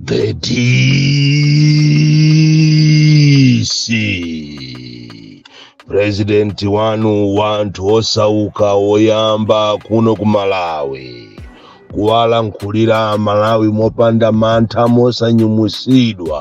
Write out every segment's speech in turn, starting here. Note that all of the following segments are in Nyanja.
The DC president wanu wanthu osauka oyamba kuno ku Malawi kuwalankhulira Malawi mopanda mantha mosanyumwisidwa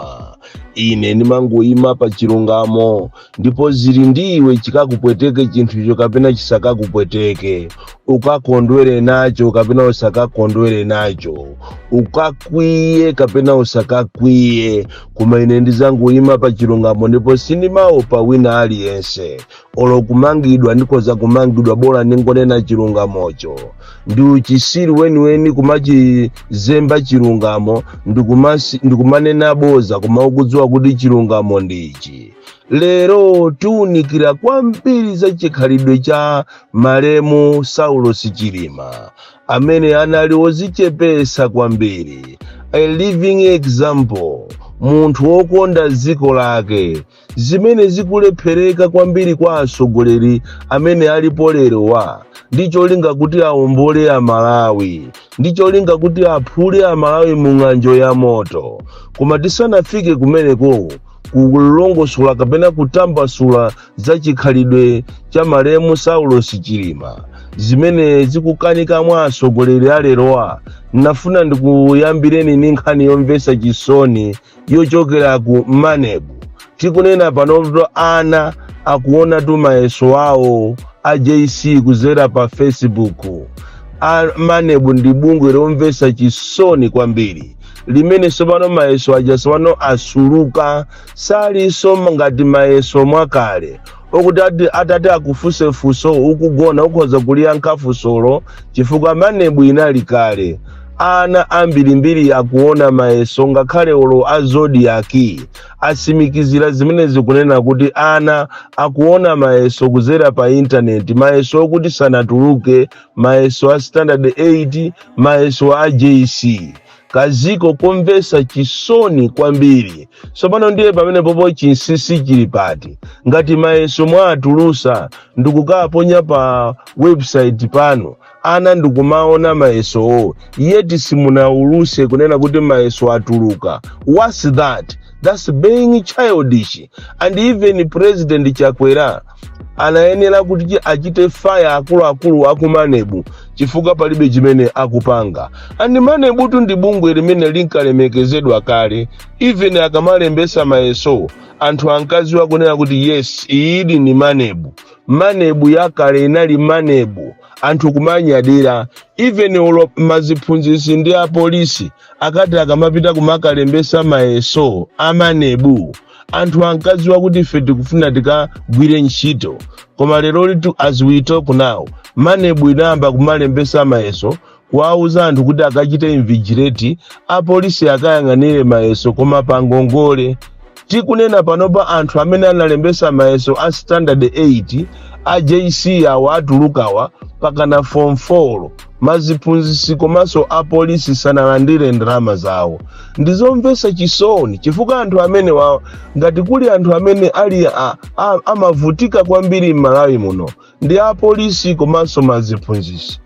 ine ndimangoyima pa chilungamo ndipo zili ndi iwe chikakupweteke chinthucho kapena chisakakupweteke ukakondwere nacho kapena usakakondwere nacho ukakwiye kapena usakakwiye koma ine ndizangoyima pa chilungamo ndipo sindimaopa wina aliyense olo kumangidwa ndikhoza kumangidwa bola ndingonena chilungamocho ndi uchisiri weniweni kumachizemba chilungamo ndikumanena boza koma ukudziwa kuti chilungamo ndi ichi lero tiunikira kwambiri za chikhalidwe cha malemu saulos chilima amene anali wozichepesa kwambiri a living example munthu wokonda dziko lake zimene zikulephereka kwambiri kwa atsogoleri amene alipo lerowa ndi cholinga kuti awombole amalawi ndi cholinga kuti aphule amalawi mu ng'anjo ya moto koma tisanafike kumeneko kulongosola kapena kutambasula za chikhalidwe cha malemu saulos chilima zimene zikukanika mwa atsogoleri alerowa nafuna ndikuyambireni ndi nkhani yomvetsa chisoni yochokera ku manebu tikunena panoto ana akuonatu mayeso awo a jc kuzera pa facebook a manebu ndi bungwe lomvetsa chisoni kwambiri limene tsopano mayeso aja tsopano asuluka salinso ngati mayeso mwakale okuti atati akufunse funso ukugona ukhoza kuliyankha funsolo chifukwa manebu inali kale ana ambirimbiri akuona mayeso ngakhale olo a zodiaki asimikizira zimenezi kunena kuti ana akuona mayeso kuzera pa intaneti mayeso okuti sanatuluke mayeso a standard 8 mayeso a jc kaziko komvesa chisoni kwambiri tsopano ndiye pamenepopo chinsisi chili pati ngati mayeso mwatulusa ndikukaponya pa website pano ana ndikumaona mayesowo yeti simunauluse kunena kuti mayeso atuluka what's that that's being childish and even president chakwera anayenera kuti achite fire akuluakulu aku manebu chifukwa palibe chimene akupanga and manebutu ndi bungwe limene linkalemekezedwa kale even akamalembesa mayeso anthu ankaziwa kunena kuti yes iyidi ni manebu manebu yakale inali manebu anthu kumanyadira even olo maziphunzisi ndi apolisi akati akamapita kumakalembesa mayeso amanebu anthu ankadziwa kuti ife tikufuna tikagwire ntchito koma lero litu as we talk now manebu inayamba kumalembesa mayeso kuwauza anthu kuti akachite invigilate apolisi akayang'anire mayeso koma pa ngongole tikunena panopa anthu amene analembesa mayeso a standard 8 a jc awa atulukawa pakana form 4 maziphunzisi komanso apolisi sanalandire ndalama zawo ndizomvesa chisoni chifukwa anthu amenewawa ngati kuli anthu amene ali a- a- amavutika kwambiri m'malawi muno ndi apolisi komanso maziphunzisi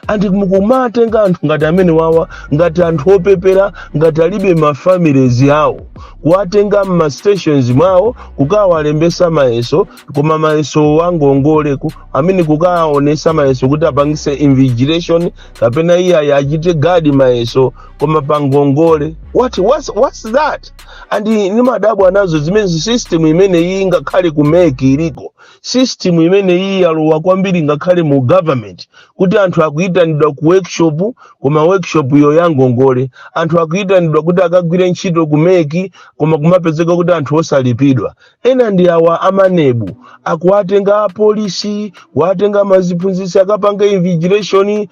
andi mukumatenga anthu ngati amenewawa ngati anthu opepera ngati alibe mafamilies awo kuwatenga m'mastations mwawo kukawalembesa mayeso koma mayeso wangongoleko amene kukaonesa mayeso kuti apangise invigilation kapena iyayi achite guard mayeso koma pangongole what what's, what's that and ni imadabwa nazo zimene system imene iyi ngakhale ku mec iliko system imene iyi yalowa kwambiri ngakhale mu government kuti anthu akuyitanidwa ku workshop koma workshop iyo yangongole anthu akuyitanidwa kuti akagwire ntchito ku mec koma kumapezeka kuti anthu osalipidwa Ena ndi awa a maneb akuwatenga apolisi kuwatenga ma ziphunzitsi akapanga invigilation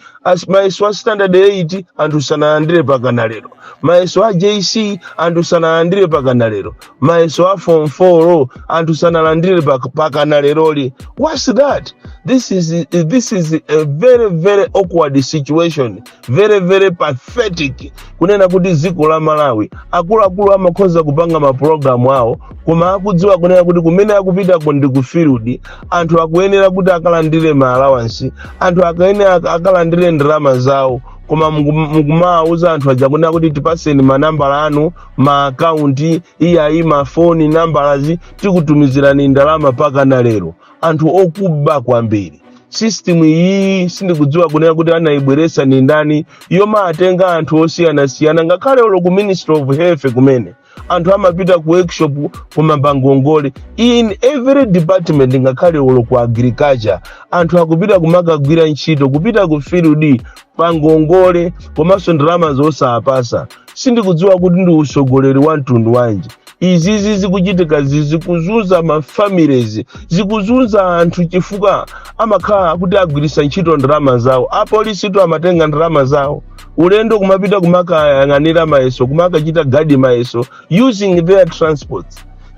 mayeso a standard 8 anthu sanalandire pakana lero mayeso a JC anthu sanalandire pakana lero mayeso a form 4 anthu sanalandire pak- pakana leroli what's that this is this is a very very awkward situation very very pathetic kunena kuti dziko la malawi akuluakulu amakhoza kupanga mapulogalamu awo koma akudziwa kunena kuti kumene akupitako ndi ku field anthu akuyenera kuti akalandire ma allowance anthu akayenera ak- akalandire ndalama zawo koma muku- mukumawauza anthu aja kunena kuti tipaseni manambala anu ma akaunti iyayi mafoni numbers tikutumizirani ndalama pakana lero anthu okuba kwambiri system iyi sindikudziwa kunena kuti anayibweretsa ndi ndani yomatenga anthu osiyanasiyana ngakhale olo ku ministry of health kumene anthu amapita ku workshop koma pangongole in every department ngakhale olo ku agriculture anthu akupita kumakagwira ntchito kupita ku field pangongole komanso ndalamazo osawapasa sindikudziwa kuti ndi usogoleri wa mtundu wanji izizi zikuchitikazi zikuzunza mafamilies zikuzunza anthu chifukwa amakhala kuti agwiritsa ntchito ndalama zawo apolisitu amatenga ndalama zawo ulendo kumapita kumakayang'anira mayeso kumakachita gadi mayeso using their transport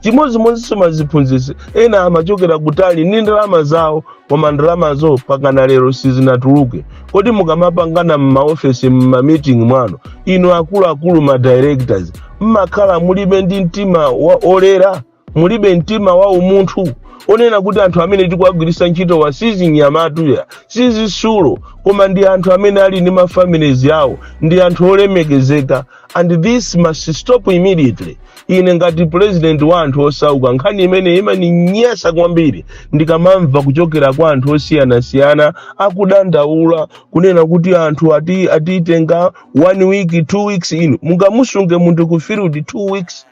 chimodzimodzinso maziphunzitsi ena amachokera kutali ndi ndalama zawo koma ndalamazo pakana lero sizinatuluke kodi mukamapangana m'maofesi m'mamiting mwanu inu akuluakulu ma directors mmakhala mulibe ndi mtima wolera mulibe mtima wa umunthu onena kuti anthu amene tikuwagwiritsa ntchitowa si zinyamatu ayi si zitsulo koma ndi anthu amene ali ndi mafamilizi awo ndi anthu olemekezeka and this must stop immediately ine ngati president wa anthu osauka nkhani imene imaninyasa kwambiri ndikamamva kuchokera kwa anthu osiyanasiyana akudandaula kunena kuti anthu atitenga one week two weeks inu mungamusunge munthu ku field two weeks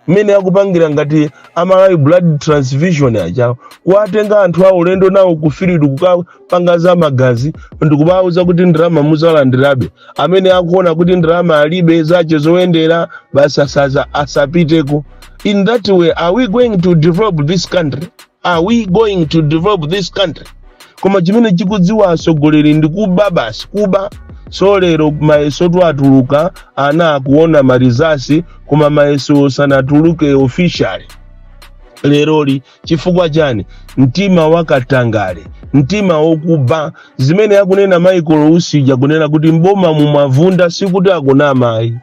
mmene akupangira ngati a malawi blood transfusion aja kuwatenga anthu aulendo nawo ku field kukapanga za magazi ndikubawuza kuti ndalama mudzalandirabe amene akuona kuti ndalama alibe zache zoyendera basi asapiteko in that way are we going to develop this country are we going to develop this country koma chimene chikudziwa atsogoleri ndi kuba basi kuba zalero mayeso atuluka ana akuona marizasi koma mayeso sanatuluke officially leroli chifukwa chani mtima wakatangale mtima wokuba zimene akunena michael usi uja kunena kuti mboma mwavunda sikuti akunama ayi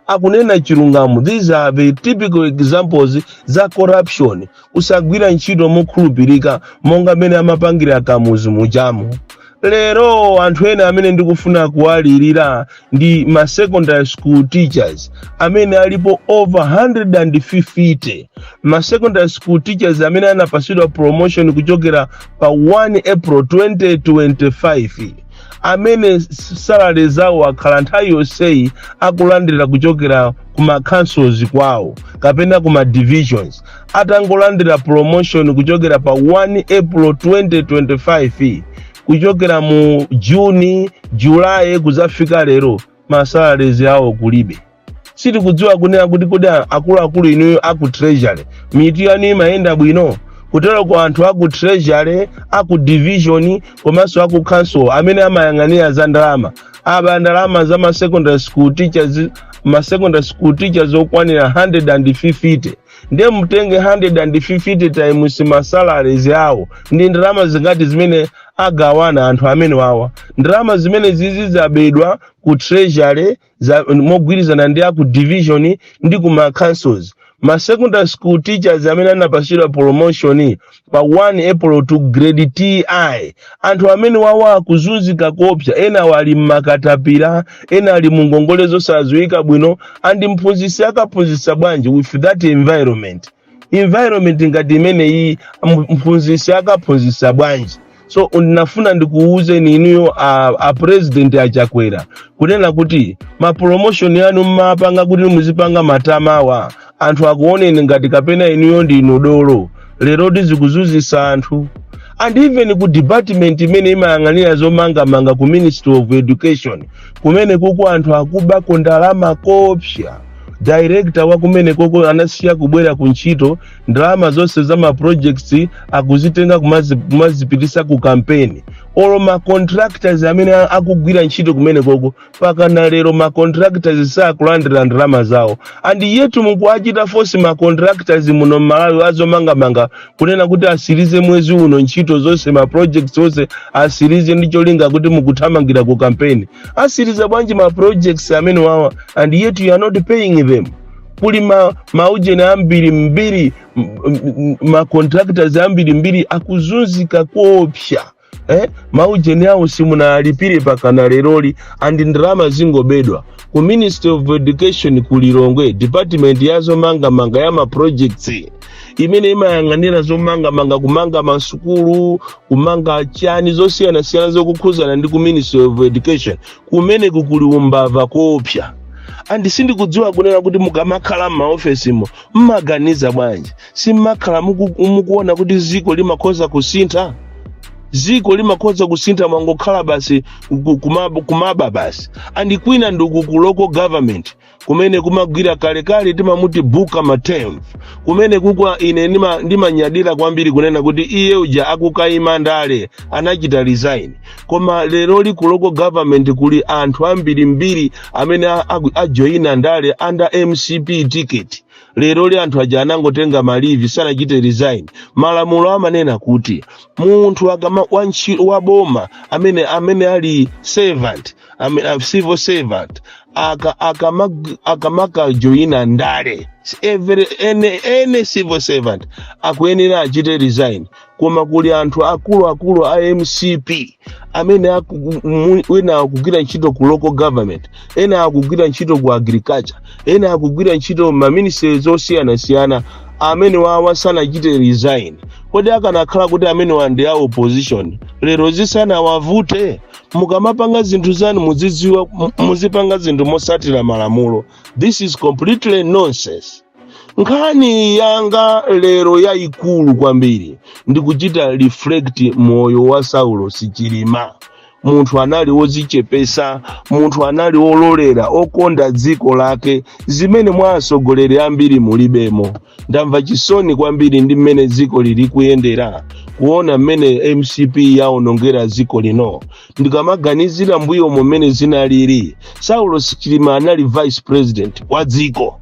akunena chilungamo these are the typical examples za corruption kusagwira ntchito mokhulupirika monga mmene amapangira akamuzu mujamu lero anthu ena amene ndikufuna kuwalirira ndi ma secondary school teachers amene alipo over 150 ma secondary school teachers amene anapatsidwa promotion kuchokera pa 1 april 2025 amene salary zawo akhala nthawi yonseyi akulandira kuchokera ku ma councils kwawo kapena ku ma divisions atangolandira promotion kuchokera pa 1 april 2025 kuchokera mu juni julayi kudzafika lero masalarizi awo kulibe sitikudziwa kunena kuti kodi a- akuluakulu inuyo aku treasury mitu yanu imayenda bwino kuteroko anthu aku treasury aku division komanso aku council amene amayang'anira za ndalama aba ndalama za ma secondary school teachers ma secondary school teachers okwanira 150 ndiye mutenge 150 times ma salaries awo ndi ndalama zingati zimene agawana anthu amenewawa ndalama zimene zizidzabedwa ku treasury za- mogwirizana ndi aku division ndi ku ma councils ma secondary school teachers amene anapatsidwa promotion pa 1 april to grade ti anthu amene awa akuzunzika koopsa ena ali mmakatapira ena ali mu ngongole zosadziwika bwino and mphunzitsi akaphunzitsa bwanji with that environment environment ngati imeneyi mu- mphunzitsi akaphunzitsa bwanji so ndinafuna ndikuwuzeni inuyo a, a president achakwera kunena kuti ma promotion yanu mmapanga kuti muzipanga matama awa anthu akuoneni ngati kapena inuyo ndinu dolo lero zikuzunzitsa anthu and even ku department imene imayang'anira zomangamanga ku ministry of education kumene koko anthu akubako ndalama koopsa director wa kumene koko anasiya kubwera ku ntchito ndalama zonse za ma projects akuzitenga kumazi- kumazipitisa ku kampeni olo ma contractors amene a- akugwira ntchito kumene koko mpakana lero ma contractors sakulandira ndalama zawo and yet mukuachita force ma contractors muno mmalawi azomangamanga kunena kuti asirize mwezi uno ntchito zonse ma projects onse asirize ndi cholinga kuti mukuthamangira ku campaign asiriza bwanji ma projects amene awa and yet you are not paying them kuli ma, maujeni ambirimbiri m- m- ma contractors ambirimbiri akuzunzika koopsa eh? maujeni awo simunalipire mpakana leroli and ndalama zingobedwa ku ministry of education ku lilongwe department ya zomangamanga ya maprojects imene imayang'anira zomangamanga kumanga masukulu kumanga chani zosiyanasiyana zokhudzana ndi ku ministry of education kumene kukuli umbava koopsa and sindikudziwa kunena kuti mukamakhala m'maofesimo mmaganiza bwanji simmakhala muku- mukuona kuti dziko limakhoza kusintha dziko limakhoza kusintha mwangokhala basi ku- kumab- kumaba basi and kwina ndi uku ku local government kumene kumagwira kalekale timothy mtambo kumene ukuko ine ndima- ndimanyadira kwambiri kunena kuti iye uja akukayima ndale anachita resign koma leroli ku local government kuli anthu ambirimbiri amene a- aku- ajoyina ndale under mcp ticket leroli anthu aja anangotenga ma leave sanachite resign malamulo amanena kuti munthu akama wantchito wa boma amene amene ali servant amene, a civil servant aka akamag- akamakajoyina ndale every any, any civil servant akuyenera achite resign koma kuli anthu akuluakulu a mcp amene aku- mu- wina akugwira ntchito ku local government ena akugwira ntchito ku agriculture ena akugwira ntchito maministries osiyanasiyana amene awawa sanachite resign kodi akanakhala kuti amenewa ndi a opposition lero zisanawavute mukamapanga zinthu zanu muzidziwa mu- muzipanga zinthu mosatira malamulo this is completely nonsense nkhani yanga lero yayikulu kwambiri ndikuchita reflect moyo wa saulos chilima munthu anali wodzichepesa munthu anali wololera okonda dziko lake zimene mwa atsogoleri ambiri mulibemo ndamva chisoni kwambiri ndi mmene dziko lili kuyendera kuona mmene mcp yaonongera dziko lino ndikamaganizira mbuyo mmene zinalili saulos chilima anali vice president wa dziko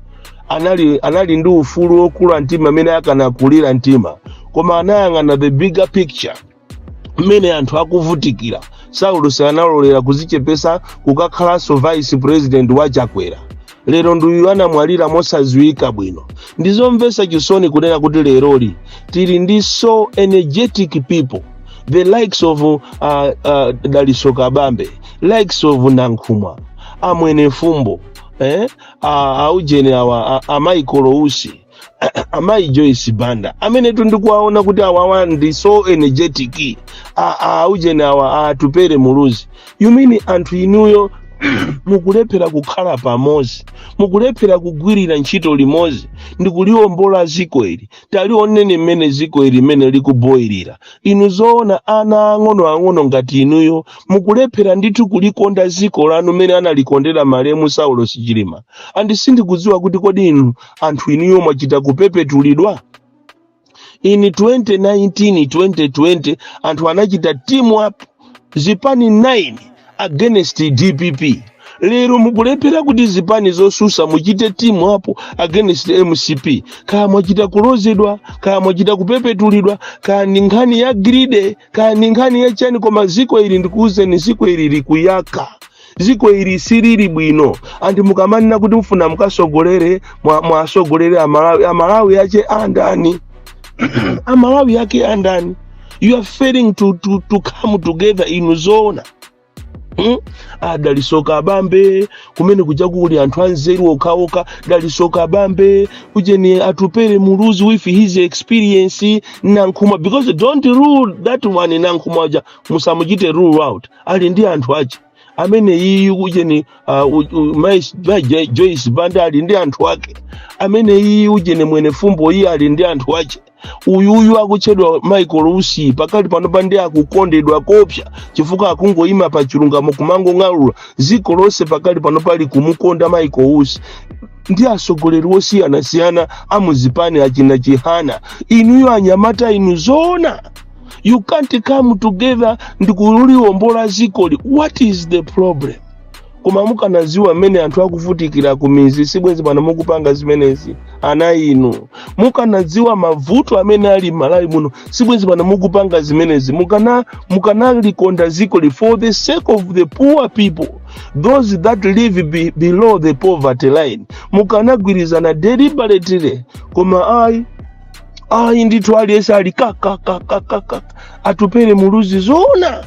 anali anali ndi ufulu wokula mtima mmene akanakulira mtima koma anayang'ana the bigger picture mmene anthu akuvutikira saulos analolera kuzichepesa kukakhalanso vice president wa chakwera lero nduyu anamwalira mosadziwika bwino ndizomvetsa chisoni kunena kuti leroli tili ndi so energetic people the likes of uh, uh, dalitso kabambe likes of nankhumwa amwene fumbo eh? uh, aujeni awa uh, a michael usi amayi joyce banda amenetu ndikuwaona kuti awawa ndi so energetic a- a- aujeni awa atupere muluzi you mean anthu inuyo mukulephera kukhala pamodzi mukulephera kugwirira ntchito limodzi ndikuliwombola ziko ili talioneni mmene ziko ili mmene likuboyirira inu zoona ana ang'onoang'ono ngati inuyo mukulephera ndithu kulikonda ziko lanu mmene analikondera malemu saulos chilima and sindikudziwa kuti kodi inu anthu inuyo mwachita kupepetulidwa in 2019 2020 anthu anachita team up zipani 9 against dpp lero mukulephera kuti zipani zosusa muchite team up against mcp kaya mwachita kulozedwa kaya mwachita kupepetulidwa kaya ndi nkhani ya greed kaya ni nkhani ya chani koma ziko ili ndikuuzeni ziko ili likuyaka ziko ili silili bwino and mukamanena kuti mufuna mukasogolere mwa- mwasogolere amalawi amalawi ache andani amalawi ake andani you are failing to, to, to come together inu zoona Hmm? a dalitso kabambe kumene kuja kuli anthu anzeru okhaokha dalitso kabambe ujeni atupere muluzi with his experience nankhumwa because don't rule that one nankhumwa uja musamuchite rule out ali ndi anthu ache amene iyi ujeni uh, u- u- mai mai Jo- joyce banda ali ndi anthu ake amene iyi ujeni mwene fumbo iyi ali ndi anthu ache uyuyu akutchedwa michael usi pakali panopa ndi akukondedwa kopsa chifukwa akungoyima pa chilungamo kumangong'alula dziko lonse pakali panopa ali kumukonda michael usi ndi atsogoleri osiyanasiyana amuzipani achina chihana inuyo anyamata inu zoona you can't come together ndikuliwombola zikoli what is the problem koma mukanaziwa mmene anthu akuvutikira ku mizi sibwenzi pano mukupanga zimenezi ana inu mukanaziwa mavuto amene ali m'malawi muno sibwenzi pano mukupanga zimenezi mukana mukanalikonda zikoli for the sake of the poor people those that live be, below the poverty line mukanagwirizana deliberately koma ayi ayi ndithu aliyense ali kakakakakaka atupere muluzi zoona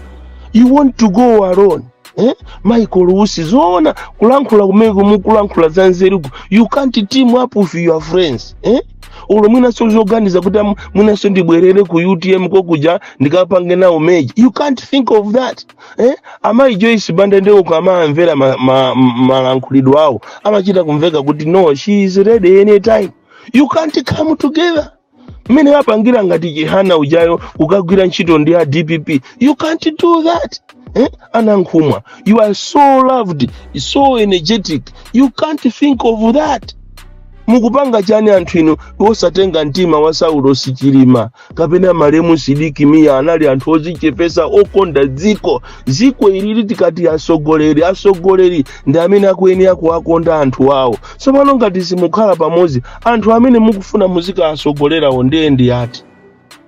you want to go alone eh? michael usi zoona kulankhula kumeko mukulankhula za nzeruku you can't team up with your friends eh? ulo mwinaso zoganiza kuti am- mwinaso ndibwerere ku utm kokuja ndikapange nawo meji you can't think of that eh? amayi joyce banda ndeko ukamamvera ma, ma, malankhulidwe awo amachita kumveka kuti no she is ready anytime you can't come together mmene apangira ngati chihana ujayo kukagwira ntchito ndi a dpp you can't do that eh? anankhumwa you are so loved so energetic you can't think of that mukupanga chani anthu inu osatenga mtima wa saulosi chilima kapena malemu sidik mia anali anthu ozichepesa okonda dziko dziko ilili tikamati asogoleri asogoleri ndi amene akuyenera kuwakonda anthu awo tsopano ngati simukhala pamodzi anthu amene mukufuna muzikawatsogolerawo ndiye ndi ati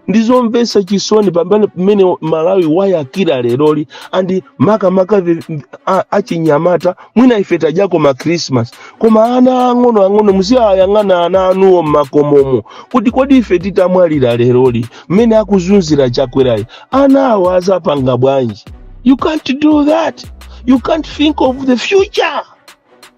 ndizomvetsa chisoni pa mmene malawi wayakira leroli andi makamaka vi- vi- a- achinyamata mwina ife tadyako ma christmas koma ana ang'ono ang'ono muziyayang'ana ana anuwo mmakomomo kuti kodi ife titamwalira leroli mmene akuzunzira chakwerayi ana awo azapanga bwanji you can't do that you can't think of the future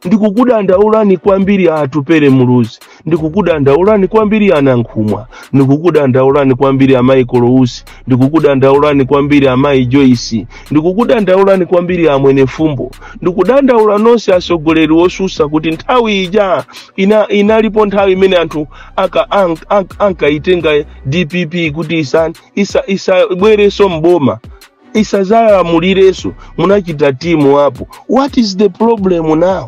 ndikukudandaulani kwambiri atupere muluzi ndikukudandaulani kwambiri anankhumwa ndikukudandaulani kwambiri a michael usi ndikukudandaulani kwambiri amayi joyce ndikukudandaulani kwambiri a mwenefumbo ndikudandaula nonse atsogoleri osusa kuti nthawi ija ina, inalipo nthawi imene anthu aka- an- an- ankaitenga dpp kuti isa- isa- isabwerenso mboma isazalamulirenso munachita timu apo what is the problem now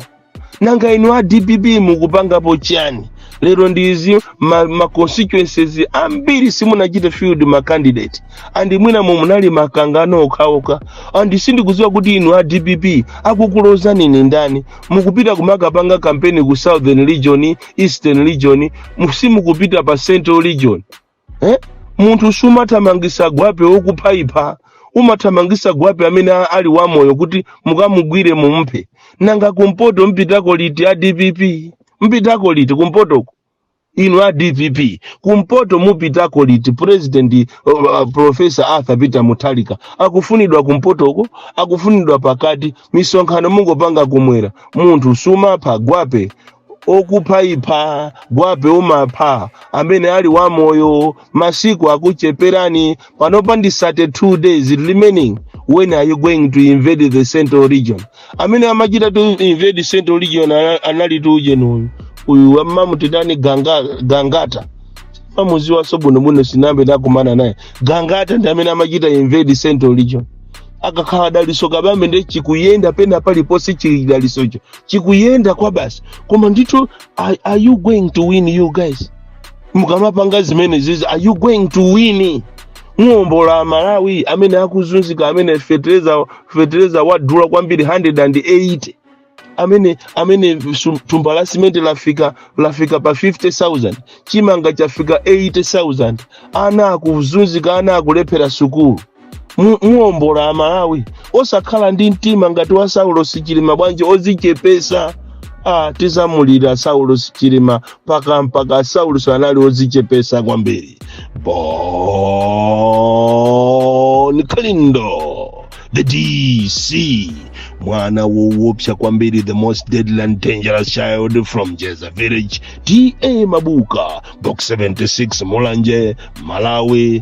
nanga inu a dpp mukupangapo chani lero ndinzi ma, ma constituencies ambiri simunachite field ma candidate and mwina mu munali makangano okhaokha and sindikudziwa kuti inu a dpp akukulodzani ndi ndani mukupita kumakapanga kampeni ku southern region eastern region mu- simukupita pa central region eh? munthu sumathamangisa gwape wokufayifa umathamangisa gwape amene a- ali wamoyo kuti mukamugwire mumuphe nanga kumpoto mpitako liti a dpp mpitako liti kumpotoko inu a dpp kumpoto mupitako liti president uh, uh, professor arthur peter mutharika akufunidwa kumpotoko akufunidwa pakati misonkhano mungopanga kumwera munthu sumapha gwape okufaifa gwape umapha amene ali wamoyo masiku akucheperani panopa ndi 32 days remaining when are you going to invade the central region amene amachita to invade central region ana- anali tu ujeni uyu uyu amamutitani ganga, gangata sindimamuziwaso bwinobwino sinambe ndakumana naye gangata ndi amene amachita invade central region akakhala dalitso kabambe nde chikuyenda pena paliponse chidalitsocho chikuyenda kwa basi koma ndithu are, are you going to win you guys mukamapanga zimenezizi are you going to win muombola malawi amene akuzunzika amene fetereza fetereza wadula kwambiri 180 amene amene sum- thumba la simenti lafika lafika pa 50000 chimanga chafika 80000 ana akuzunzika ana akulephera sukulu mu- muombola malawi osakhala ndi mtima ngati wa saulos chilima bwanji ozichepesa ah, tizamulira saulos chilima mpaka mpaka saulos anali ozichepesa kwambiri bon kalindo the dc mwana wowopsa kwambiri the most deadly and dangerous child from jeza village ta mabuka box 76 mulanje malawi